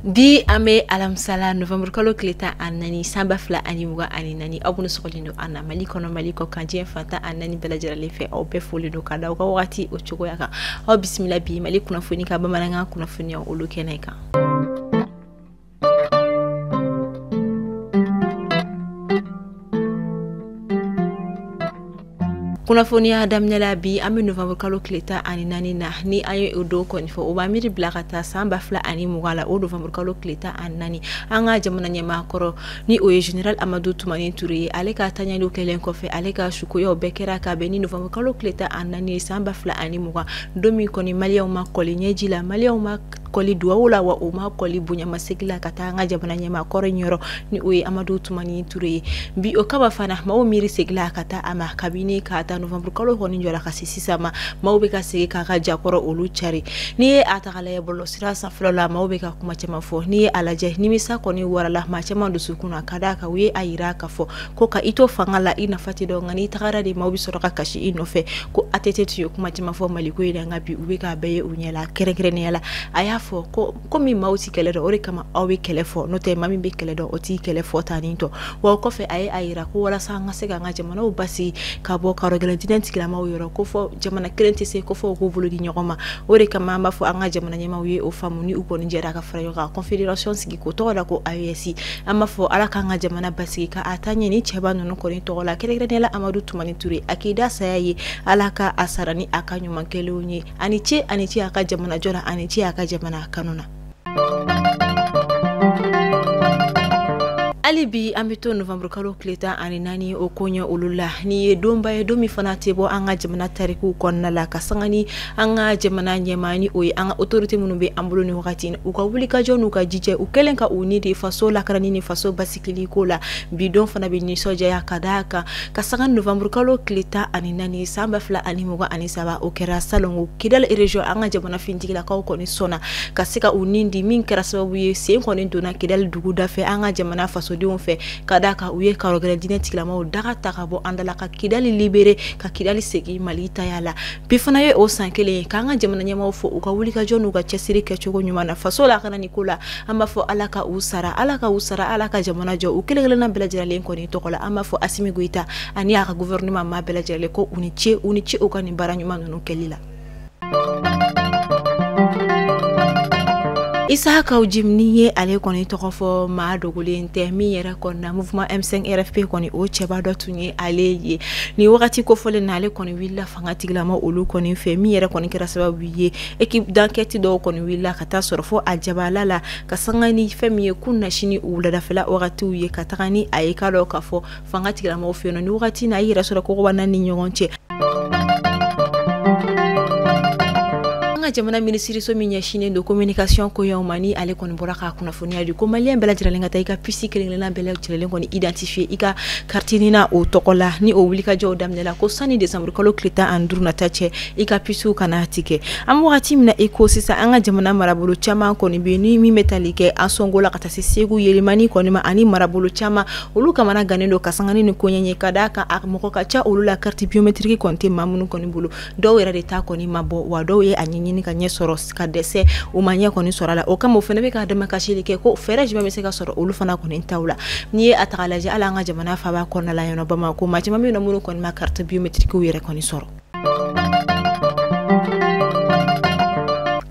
bi an bɛ alamisala novembre kalo tile tan ani naani san ba fila ani mugan ani naani aw minnu sɔgɔlen don an na mali kɔnɔ mali kɔ kan diɲɛ fan tan ani naani bɛɛ lajɛlen fɛ aw bɛɛ folen don ka da aw ka wagati o cogoya kan aw bisimila bi mali kunnafoni ka bamanankan kunnafoniyaw olu kɛnɛ kan kunnafoniya daminɛ la bi an bɛ novembre kalo tile tan ani naani na ni an ye o don kɔni fɔ o b'an miiri bila ka taa san ba fila ani mugan la o novembre kalo tile tan ani naani an ka jamana ɲɛmaa kɔrɔ ni o ye general amadu tumani ture ye ale ka taɲaliw kɛlen kɔfɛ ale ka sukoyaw bɛɛ kɛra ka bɛn ni novembre kalo tile tan ani naani ye san ba fila ani mugan don min kɔni maliyɛnw ma kɔli ɲɛji la maliyɛnw ma kɔli duwawu la wa o ma kɔli bonyamasegi la ka taa an ka jamana ɲɛmaa kɔrɔ in yɔrɔ ni o ye amadu tumani ture ye bi o kama fana maaw miiri segila ka taa a ma kabini k'a ta novembre kalo kɔni jɔra ka se sisan ma maaw bɛ ka segi k'a ka ja kɔrɔ olu cari n'i ye a ta k'a lajɛ bɔlɔ sira sanfɛlaw la maaw bɛ ka kuma caman fɔ n'i ye a lajɛ nimisa kɔni warala maa caman dusukun na ka d'a kan u ye a yira k'a fɔ ko ka i to fanga la i nafa tɛ dɔn nka n'i tagara de maaw bɛ sɔrɔ ka kasi i nɔfɛ ko ATT tun ye kuma caman fɔ Mali ko in na nka bi u bɛ k'a bɛɛ ye u ɲɛ la kɛrɛnkɛrɛnnenya la a y'a fɔ ko komi maaw tɛ kɛlɛ dɔn o de kama aw bɛ kɛlɛ fɔ n'o tɛ maa min bɛ kɛlɛ dɔn o tɛ kɛlɛ fɔ tan ni tɔ wa o kɔfɛ a ye a jira ko walasa an ka se k'an ka jamanaw basigi ka bɔ karɔgɛlɛn diinɛ tigilamaw yɔrɔ ko fɔ jamana kelen tɛ se ko fo u k'u bolo di ɲɔgɔn ma o de kama an b'a fɔ an ka jamana ɲɛmaaw ye o faamu ni u kɔni jɛra ka fara ɲɔgɔn kan confederation sigi k'o tɔgɔ da ko AES an b'a fɔ ala k'an ka jamana basigi ka a taa ɲɛ ni cɛba ninnu kɔni tɔgɔ la kɛrɛnkɛrɛnnenya la Amadu Tumani Ture a k'i da saya ye ala ka a sara ni a ka ɲuman kɛlenw ye a ni ce a ni ce a ka jamanajɔ la a ni ce a ka jamana kanu na. hali bi an bɛ to novembre kalo tile tan ani naani o koɲɛ olu la nin ye donba ye don min fana tɛ bɔ an ka jamana tarikuw kɔnɔna la ka sanga ni an ka jamana ɲɛmaaw ni o ye an ka otorite minnu bɛ an bolo nin wagati u ka wulikajɔ n'u ka jija u kɛlen ka u ni di faso lakanani ni faso basigili ko la bi don fana bɛ nisɔndiya ka da a kan ka sanga novembre kalo tile tan ani naani san ba fila ani mugan ani saba o kɛra salon ko kidali region an ka jamana finitigilakaw kɔni sɔnna ka se ka u ni di min kɛra sababu ye sen kɔni donna kidali duguda fɛ an ka jamana fasodenw fɛ ka da a kan u ye karɔgɛlɛn diinɛ tigilamaw daga ta ka bɔ an da la ka kidali libere ka kidali segin mali taya la bi fana ye o san kelen ye k'an ka jamana ɲɛmaw fo u ka wulikajɔ n'u ka cɛsiri kɛcogo ɲuman na faso lakanani ko la an b'a fɔ ala ka u sara ala ka u sara ala ka jamana jɔ u kelen kelenna bɛɛ lajɛlen kɔni tɔgɔ la an b'a fɔ asimi goyita ani a ka gouvernement ma bɛɛ lajɛlen ko u ni ce u ni ce u ka nin baara ɲuman ninnu kɛli la isa kaw jim ni ye ale kɔni tɔgɔ fɔ maa dogolen tɛ min yɛrɛ kɔnɔna mouvement m5 rfp kɔni o cɛba dɔ tun ye ale ye nin wagati kofɔlen na ale kɔni welela fangatigilama olu kɔni fɛ min yɛrɛ kɔni kɛra sababu ye équipe d'enquête dɔw kɔni wulila ka taa a sɔrɔ fo a jabaala la ka sanga ni fɛn min ye kunasinin wuladafɛla wagatiw ye ka taga ni a ye ka dɔn ka fɔ fangatigilamaw fɛ yen nɔ ni wagati na a yɛrɛ sɔrɔ kokoba naani ɲɔgɔn cɛ ka jamana minisiriso min ɲɛsinnen don communication koɲɛw ma ni ale kɔni bɔra ka kunnafoniya di ko malien bɛɛ lajɛlen ka taa i ka pisi kelen-kelenna bɛɛ lajɛlen kɔni identifier e i ka carte nina o tɔgɔ la ni o wulikajɔw daminɛla ko sani desanburukalo tile tan ani duuru nata cɛ i ka pisiw kana na tigɛ an wagati min na i ko sisan an ka jamana marabolo caman kɔni bɛ ni min bɛ tali kɛ ansongo la ka taa se segu yelimani kɔni ma ani marabolo caman olu kamanagannen don ka sanga ni koɲɛ ye ka d'a kan a mɔgɔ ka ca olu la carte biométrique kɔni tɛ maa minnu kɔni bolo dɔw yɛrɛ de ta kɔni ma bɔ wa dɔw ye a ɲɛɲini ka ɲɛ sɔrɔ ka dɛsɛ u ma ɲɛ kɔni sɔrɔ a la o kama o fana bɛ ka damakasili kɛ ko fɛɛrɛ jumɛn bɛ se ka sɔrɔ olu fana kɔni taw la n'i ye a ta k'a lajɛ hali an ka jamana faaba kɔnɔna la yan nɔ bamakɔ maa caman bɛ yen nɔ minnu kɔni ma carte biométriquew yɛrɛ kɔni sɔrɔ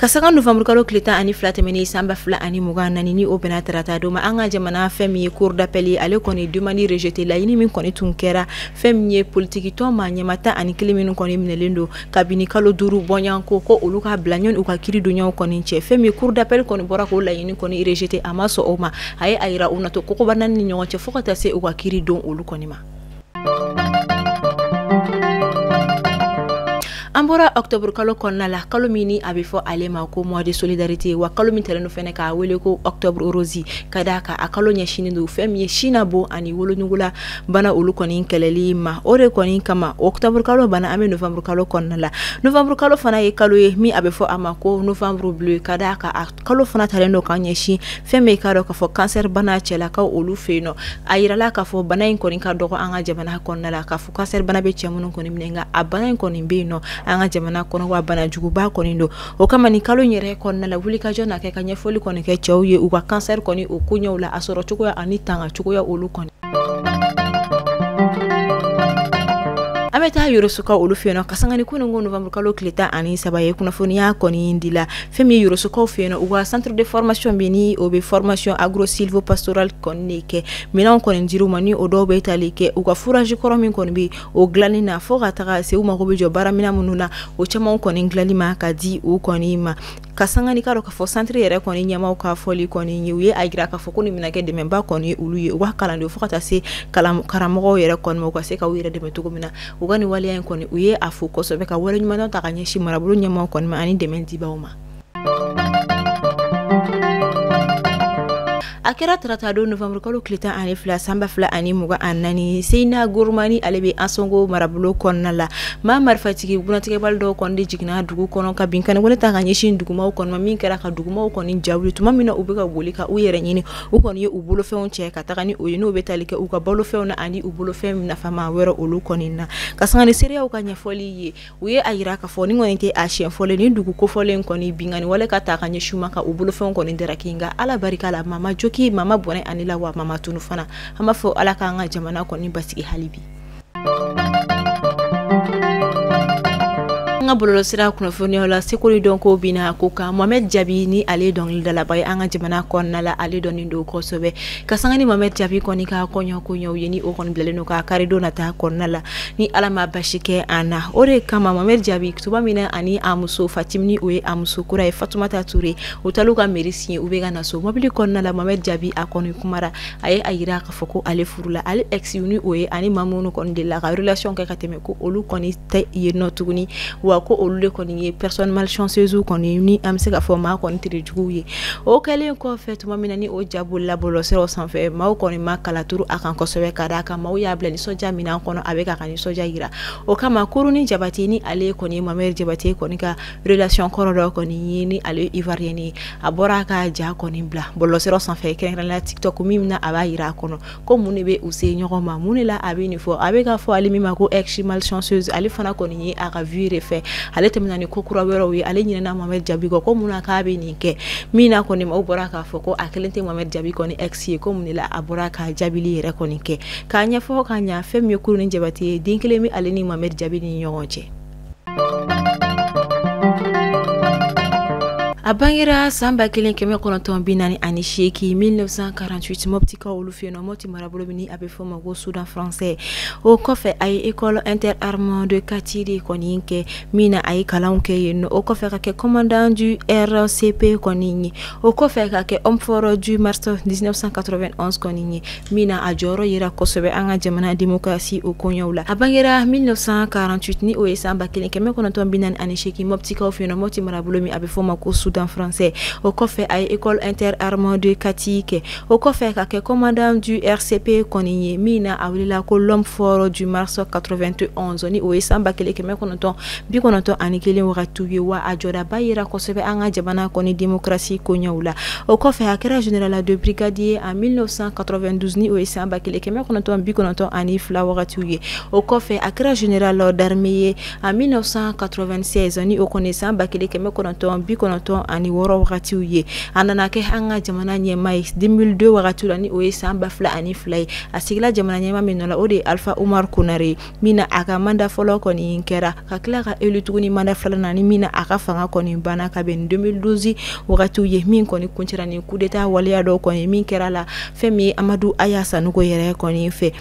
ka sanga novembre kalo tile tan ani fila tɛmɛnen san ba fila ani mugan naani ni o bɛnna tarata don ma an ka jamana fɛn min ye cour d'appel ale kɔni demande rejeter laɲini min kɔni tun kɛra fɛn min ye politikitɔn maa ɲɛmaa tan ani kelen minnu kɔni minɛlen don kabini kalo duuru bɔɲanko ko olu ka bila yanni u ka kiri donyaw kɔni cɛ fɛn min ye cour d'appel kɔni bɔra k'o laɲini kɔni rejeter a ma sɔn o ma a ye a yira u na to kokoba naani ni ɲɔgɔn cɛ fo ka taa se u ka kiri don olu kɔni ma an bɔra octobre kalo kɔnɔna la kalo min ni a bɛ fɔ ale ma ko mois de solidarité wa kalo min talen fɛnɛ k'a wele ko octobre rose ka d'a kan a kalo ɲɛsinnen don fɛn min ye sin na bon ani wolonugu la bana olu kɔni kɛlɛli ma o de kɔni kama octobre kalo banna an bɛ novembre kalo kɔnɔna la novembre kalo fana ye kalo ye min a bɛ fɔ a ma ko novembre bleu ka d'a kan a kalo fana talen don k'a ɲɛsin fɛn min k'a dɔn k'a fɔ kansɛribana cɛlakaw olu fɛ yen nɔ a yirala k'a fɔ bana in kɔni ka dɔgɔ an ka jamana kɔnɔna la k'a fɔ kansɛribana bɛ cɛ minnu kɔni minɛ nka a bana in kɔni bɛ yen nɔ an ka jamana kɔnɔ wa banajuguba kɔni don o kama nin kalo in yɛrɛ kɔnɔna la wulikajɔ na kɛ ka ɲɛfɔli kɔni kɛ cɛw ye u ka cancer kɔni o ko ɲɛw la a sɔrɔ cogoya ani tanga cogoya olu kɔni an bɛ taa yorosoka olu fɛ yen nɔ ka sanga ni kunun ko novembre kalo tile tan ani saba ye kunnafoniya kɔni di la fɛn min ye yorosokaw fɛ yen nɔ u ka centre de formation bɛ ni o bɛ formation agro silvo pastoral kɔni de kɛ minɛnw kɔni dir'u ma ni o dɔw bɛ tali kɛ u ka forage kɔrɔ min kɔni bɛ o dilanni na fɔɔ ka taga se u mago be jɔ baaramina minnu na o caamanw kɔni dilanni ma ka di u kɔni ma ka sanga ni ka dɔ k'a fɔ santiri yɛrɛ kɔni ɲɛmaw ka fɔli kɔni ye u ye a jira k'a fɔ ko nin bɛna kɛ dɛmɛba kɔni ye olu ye u ka kalandenw fo ka taa se karamɔgɔw yɛrɛ kɔni ma u ka se ka u yɛrɛ dɛmɛ cogo min na u ka nin waleya in kɔni u ye a fo kosɛbɛ ka waleɲumandɔn ta ka ɲɛsin marabolo ɲɛmaw kɔni ma ani dɛmɛ dibaw ma a kɛra tarata don novanburukalo tile tan ani fila san ba fila ani mugan ani naani seyina guruma ni ale bɛ ansongo marabolo kɔnɔna la maa marifatigi bugunnatigɛbali dɔw kɔni de jiginna dugu kɔnɔ ka binkanniwale ta ka ɲɛsin dugumaw kɔni ma min kɛra ka dugumaw kɔni ja wuli tuma min na u bɛ ka boli ka u yɛrɛ ɲini u kɔni ye u bolofɛnw cɛ ka taga ni o ye n'o bɛ tali kɛ u ka balofɛnw na ani u bolofɛn nafama wɛrɛ olu kɔni na ka sanga ni seereyaw ka ɲɛfɔli ye u ye a yira k'a fɔ nin kɔni tɛ a siɲɛ fɔlɔ ye ni dugu kofɔlen kɔni binkanniwale ka ta ka ɲɛsin u ma ka u bolofɛnw kɔni daraki nka ala barika la maa ma jogin maa ma bɔnɛ a ni la wa maa ma tunun fana an b'a fɔ ala k'an ka jamana kɔni basigi hali bi an ka bɔlɔlɔsira kunnafoniw la seko ni dɔnko bi na ko kan mohamɛd jabi ni ale dɔnkilidalaba ye an ka jamana kɔnɔna la ale dɔnnen don kosɛbɛ ka sanga ni mohamɛd jabi kɔni ka kɔɲɔ koɲɛw ye ni o kɔni bilalen don ka karidon nata kɔnɔna la ni ala ma basi kɛ an na o de kama mohamɛd jabi tuma min na ani a muso fatimi ni o ye a muso kura ye fatumata ture u talu ka mairie signer u bɛ ka na so mobili kɔnɔna la mohamɛd jabi a kɔni kumara a ye a yira k'a fɔ ko ale furula ale exw ni o ye a ni maa minnu kɔni delila ka relation kɛ ka tɛmɛ ko olu kɔni tɛ yen nɔ tuguni wa ko olu de kɔni ye personne malchanceuse kɔni ni an bɛ se ka fɔ maa kɔni tere juguw ye o kɛlen kɔfɛ tuma min na ni o ja bilala bɔlɔlɔsiraw sanfɛ maaw kɔni ma kalaturu a kan kosɛbɛ ka d'a kan maaw y'a bila nisɔndiya min na kɔnɔ a bɛ k'a ka nisɔndiya jira o kama kuruni jabate ni ale kɔni mohamɛd jabate kɔni ka relation kɔrɔ dɔ kɔni ye ni ale ivoirienne ye a bɔra k'a ja kɔni bila bɔlɔlɔsiraw sanfɛ kɛrɛnkɛrɛnnenya la tiktok min na a b'a jira a kɔnɔ ko mun de bɛ u se ɲɔgɔn ma mun de la a bɛ nin fɔ a bɛ k'a fɔ ale min ma ko ex malchanceuse ale fana kɔni ye a ka vie de fɛ ale tɛmɛna ni ko kura wɛrɛw ye ale ɲinɛna Mohamed Jabi kɔ ko mun na k'a bɛ nin kɛ min na kɔni maaw bɔra k'a fɔ ko a kelen tɛ Mohamed Jabi kɔni ex ye ko mun de la a bɔra ka jaabili yɛrɛ kɔni kɛ k'a ɲɛfɔ ka ɲa fɛn min ye kuruni jabate ye den kelen bɛ ale ni Mohamed Jabi ni ɲɔgɔn cɛ a bangera san ba kelen kɛmɛ kɔnɔntɔn bi naani ani seeki 1948 mɔptikaw olu fɛ yen nɔ mɔpti marabolo min a bɛ fɔ ma ko sudan français o kɔfɛ a ye école interarmes de kati de kɔni kɛ min na a ye kalanw kɛ yen nɔ o kɔfɛ ka kɛ commandant du rcp kɔni ye o kɔfɛ ka kɛ homme fort du mars 1991 kɔni ye min na a jɔyɔrɔ yira kosɛbɛ an ka jamana demokarasi o koɲɛw la a bangera 1948 ni o ye san ba kelen kɛmɛ kɔnɔntɔn bi naani ani seegin mɔptikaw fɛ yen nɔ mɔpti marabolo min a bɛ f'a ma ko soudan français o kɔfɛ a ye école interarmes de kati kɛ o kɔfɛ ka kɛ commandant du rcp kɔni ye min na a welela ko l'homme fort du mars 91 ni o ye san ba kelen kɛmɛ kɔnɔntɔn bi kɔnɔntɔn ani kelen wagatiw ye wa a jɔdaba yira kosɛbɛ an ka jamana kɔni demokarasi koɲɛw la o kɔfɛ a kɛra général de brigade ye en 1992 o ye san ba kelen kɛmɛ kɔnɔntɔn bi kɔnɔntɔn ani fila wagatiw ye o kɔfɛ a kɛra général d'armée ye en 1996 ni o kɔni san ba kelen kɛmɛ kɔnɔntɔn bi kɔnɔntɔn ani wɔɔrɔ wagatiw ye a nana kɛ an ka jamana ɲɛmaa ye 2002 wagatiw la ni o ye san ba fila ani fila ye a sigila jamana ɲɛmaa min nɔ la o de ye alifa umaru konare ye min na a ka manda fɔlɔ kɔni kɛra ka tila ka élu tuguni manda filanan ni min na a ka fanga kɔni banna ka bɛn 2012 wagatiw ye min kɔni kuncɛra ni kudeta waleya dɔ kɔni min kɛra la fɛn min amadu a y'a sanuko yɛrɛ kɔni fɛ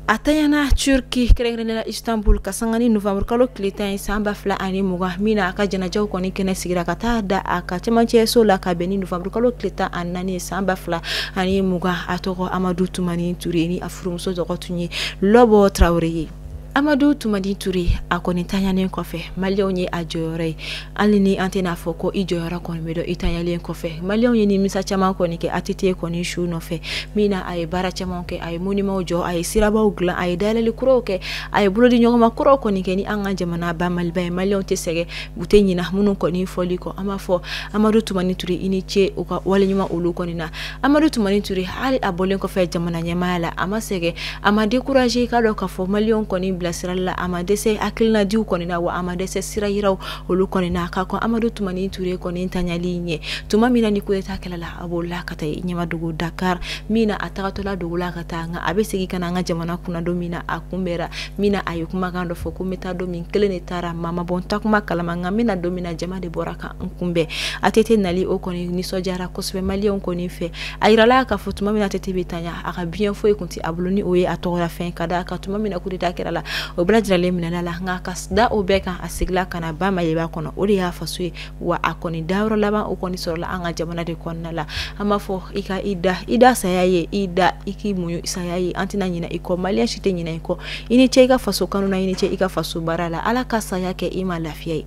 a taɲana turki kɛrɛnkɛrɛnla istanbul ka sanga ni nowanburukalo tile tan ye san ba fila ani mugan min na a ka janajaw kɔni kɛnɛ sigira ka taa da a ka cɛmancɛso la ka bɛn ni nowanburukalo tile tan ani naani san ba fila ani mugan a tɔgɔ amadu tumani ture ni furumuso tɔgɔ tun ye lɔbɔ tarawele ye amadu tumani ture a kɔni taɲalen kɔfɛ maliyɛnw ye a jɔyɔrɔ ye hali ni an tɛn'a fɔ ko i jɔyɔrɔ kɔni bɛ dɔn i taɲalen kɔfɛ maliyɛnw ye nimisa caman kɔni kɛ att kɔni su nɔfɛ min na a ye baara caman kɛ a ye monimaw jɔ a ye sirabaw dilan a ye dayɛlɛli kuraw kɛ a ye bolodiɲɔgɔnma kuraw kɔni kɛ ni an ka jamana ba maliba ye maliyɛnw tɛ sɛgɛn u tɛ ɲina minnu kɔni fɔli kɔ an b'a fɔ amadu tumani ture i ni ce u ka waleɲuman olu kɔni na amadu tumani ture hali a bɔlen kɔfɛ jamana ɲɛmaaya la a ma sɛgɛn a ma dekuraze i k'a dɔn k'a fɔ maliyɛnw kɔni bilasirali la a ma dɛsɛ hakilinadiw kɔni na wa a ma dɛsɛ sira yiraw olu kɔni na ka kɔn amadu tumani ture kɔni tanyali ɲɛ tuma min na ni kudeta kɛra la a bɔla ka taa ɲɛmadogo dakar min na a tagatɔla dogola ka taa nka a bɛ segin ka na an ka jamana kunna don min na a kunbɛra min na a ye kumakan dɔ fɔ ko n bɛ taa don min n kelen de taara maa ma bɔ n taatuma kalama nka n bɛna don min na jama de bɔra ka n kunbɛn att nali o kɔni nisɔndiyara kosɛbɛ maliyɛnw kɔni fɛ a yirala k'a fɔ tuma min na att bɛ tanya a ka biyɛn foyi tun tɛ a bolo ni o ye a tɔgɔlafɛn ka da a kan tuma min na kudeta kɛra la o bɛɛ lajɛlen minɛla la nka ka da o bɛɛ kan a segila ka na ba maliba kɔnɔ o de y'a faso ye wa a kɔni dayɔrɔ laban o kɔni sɔrɔla an ka jamana de kɔnɔna la an b'a fɔ i ka i da i da saya ye i da i k'i muɲu saya ye an tɛna ɲinɛ i kɔ maliyɛn si tɛ ɲinɛ i kɔ i ni ce i ka faso kanu na i ni ce i ka faso baara la ala ka saya kɛ i ma lafiya ye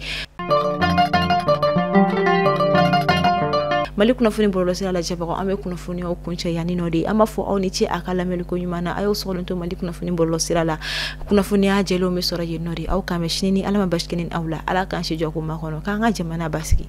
mali kunnafoni bɔlɔlɔsira lajɛbagaw an bɛ kunnafoniyaw kuncɛ yanninɔ de an b'a fɔ aw ni ce a ka lamɛnliko ɲuman na a y'aw sɔgɔlen to mali kunnafoni bɔlɔlɔsira la kunnafoniya jɛlenw bɛ sɔrɔ yenninɔ de aw k'an bɛn sini ni ala ma basi kɛ ne ni aw la ala k'an si jɔ k'o makɔnɔ k'an ka jamana basigi